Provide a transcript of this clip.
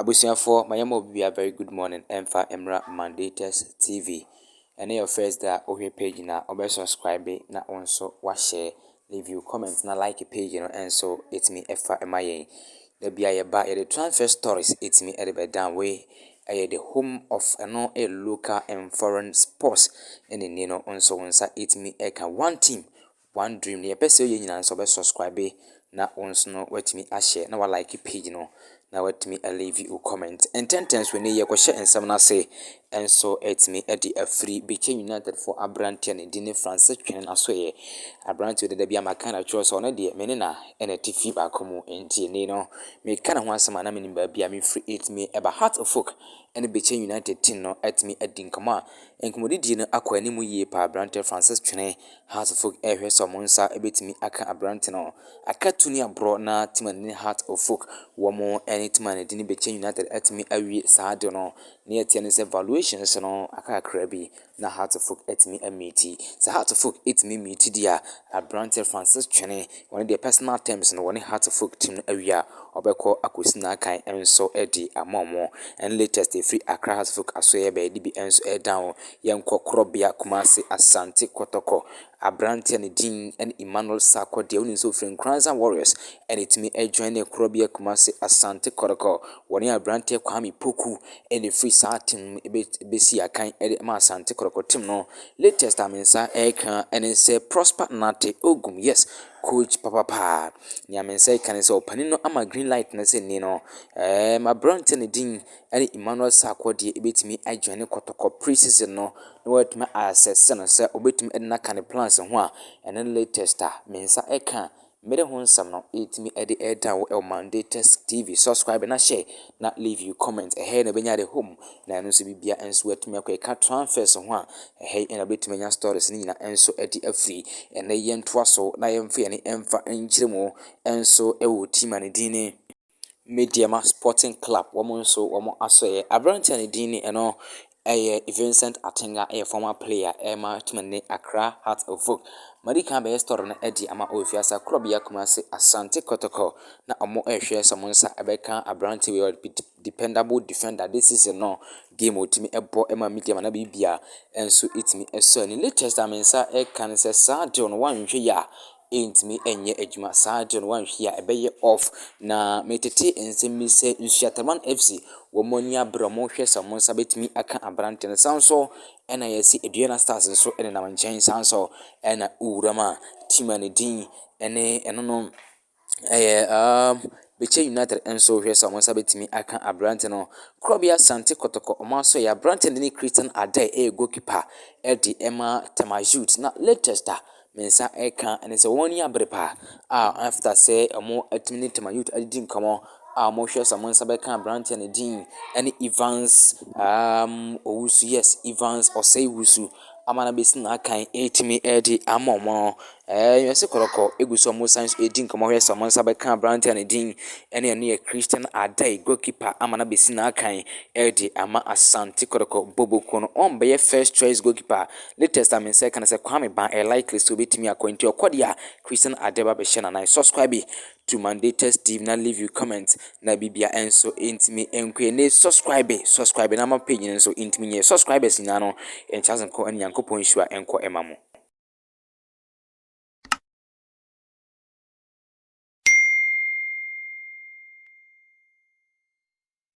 Abusuafoɔ ma yɛma obibia very good morning ɛmfa mmra Mandatus TV ɛne your first day a wohwɛ page na wobɛ subscribe na wo nso wahyɛ leave you comment na like page no ɛnso ɛtumi ɛfa ɛma yɛn da bia yɛba yɛde transfer stories ɛtumi ɛde bɛdan wei ɛyɛ the home of ɛno a local and foreign sports ɛne ni no nso wo nsa ɛtumi ɛka one team One dream nea ɛpɛ sɛ ɔyɛ nyinaa no sɛ ɔbɛ subscribe na wo nso no woatumi ahyɛ na wa like page no na woatumi a leave wo comment ntɛntɛn so ɛnɛ yɛkɔhyɛ nsɛm no ase nso atumi de afiri Bikye United fo aberanteɛ ne din ne Francis Twene Asoeɛ aberanteɛ dada bi ama kan atwerɛ sɛ ɔno deɛ mene na ɛna ti fi baako mu nti ɛnɛ no meka ne ho asɛm a na menim baabi a mefiri atumi ɛba Heart of Oak ɛne Bikye United team no atumi adi nkɔmɔ a nkɔmɔdidie no akɔ anim yie paa aberanteɛ Francis Twene Hartfog rehwɛ sɛ wɔn nsa betumi aka aberante no aka tuni aborɔ na Timan ne Hart of Folk wɔn ne Timan de no bɛkyɛ United atumi awie saa ade no. Nea ɛteɛ ne sɛ valuations no aka kakra bi na Hartfog atumi amiiti. Sɛ Hartfog tumi miiti deɛ a, aberante Francis Twene Wɔn deɛ personal terms no wɔne Hearts of Oak team no awie a, wɔbɛkɔ akɔsi n'akan nso de ama wɔn. Ɛne latest ɛfiri Accra Hearts of Oak asoɛeɛ baeɛ de bi nso reda wɔn. Yɛnkɔ korɔbea Kumasi, Asante Kɔtɔkɔ. Aberanteɛ a ne din ne Emmanuel Sarkor deɛ wonim sɛ ɔfiri Nkoranza Warriors ɛna ɛtumi ajoine korɔbea Kumasi, Asante Kɔtɔkɔ. Wɔne aberanteɛ Kwame Poku ɛna ɛfiri saa team no mu bɛsi akan de ma Asante Kɔtɔkɔ team no. Latest a me nsa reka ne sɛ Prosper Nartey Ogum, yes, coach papapaa. Nea me nsa reka ne sɛ ɔpanin no ama green light no sɛ nne no, ɛɛ m'aberanteɛ no din ne Emmanuel Sarkoo deɛ ɛbɛtumi adwane kɔtɔkɔ pre-season no na wɔatumi asɛse no sɛ ɔbɛtumi de no aka ne plans ho a, ɛno ne latest a me nsa reka Mede ho nsɛm no ɛtumi ɛde ɛda wo ɛwɔ Mandatus TV subscribe na hyɛ na leave you comment ɛhɛ yi na wobɛnya de home na ɛno nso bibia nso ɛtumi ɛkɔ ɛka transfers ho a ɛhɛ yi na wobɛtumi anya stories no nyina ɛnso ɛde afiri ɛnɛ yɛntoa so na yɛmfa yɛne ɛmfa nkyerɛ mu ɛnso ɛwɔ team a ne din ne. Medeama Sporting Club wɔn nso wɔn asɔeɛ. Aberanteɛ a ne din ne ɛno ɛyɛ Vincent Atenga ɛyɛ former player ɛma team no ne Accra Hearts of Oak. Madi kan abɛyɛ story no ɛde ama wɔ Fiasa Korɔbea Kumasi Asante Kɔtɔkɔ na wɔn ɛrehwɛ sɛ wɔn nsa ɛbɛka aberanteɛ wei ɔyɛ dependable defender this season no game a ɔtumi ɛbɔ ɛma Medeama na biribi a ɛnso ɛtumi ɛsɔ ani. Latest a me nsa ɛka ne sɛ saa deal no wɔanhwɛ yie a ɛntumi nyɛ adwuma saa deɛ no wanhwie a ɛbɛyɛ off na metete nsɛm bi sɛ Nsuataman FC wɔn ani abere wɔn rehwɛ sɛ wɔn nsa bɛtumi aka aberanteɛ no san so ɛna yɛsi Aduana Stars nso ɛnenam nkyɛn san so ɛna owura mu a team a ne din ɛne ɛno no ɛyɛ um, Bekyɛ United nso hwɛ sɛ wɔn nsa bɛtumi aka aberante no Korɔbea Sante Kɔtɔkɔ wɔn aso yɛ aberante no ne Christian Adai ɛyɛ goalkeeper ɛde ɛma Tema Youth na latest a Me nsa reka ne sɛ wɔn ani abere paa a after sɛ wɔatumi ne Tema Youth adidi nkɔmmɔ a wɔhwɛ sɛ wɔn nsa bɛka aberanteɛ no din ne Evans um, Owusu, yes, Evans Osei Wusu ama no abɛsi n'akan ɛretumi ɛredi ama wɔn no. Ɛɛ, yɛsi kɔrɔkɔ egu so wɔn san so ɛredi nkɔmmɔ hwɛ sɛ wɔn nsa bɛka aberanteɛ no din ɛne ɛno yɛ Christian Adai, goalkeeper ama no abɛsi n'akan ɛredi ama Asante Kɔrɔkɔ Bobokuo no. Wɔn bɛyɛ first choice goalkeeper. New Testament sɛ ɛka no sɛ Kwame Ban ɛyɛ likely sɛ obetumi akɔ nti ɔkɔ deɛ a Christian ade ba bɛhyɛ no anan subscribe to Mandatus TV na leave you comment na bibia ɛnso ɛntumi ɛnkɔ ɛne subscribe subscribe na ama page no nso ɛntumi nyɛ subscribers nyinaa no ɛnkyase nkɔ ɛne Nyankopɔn nhyira ɛnkɔ ɛma mo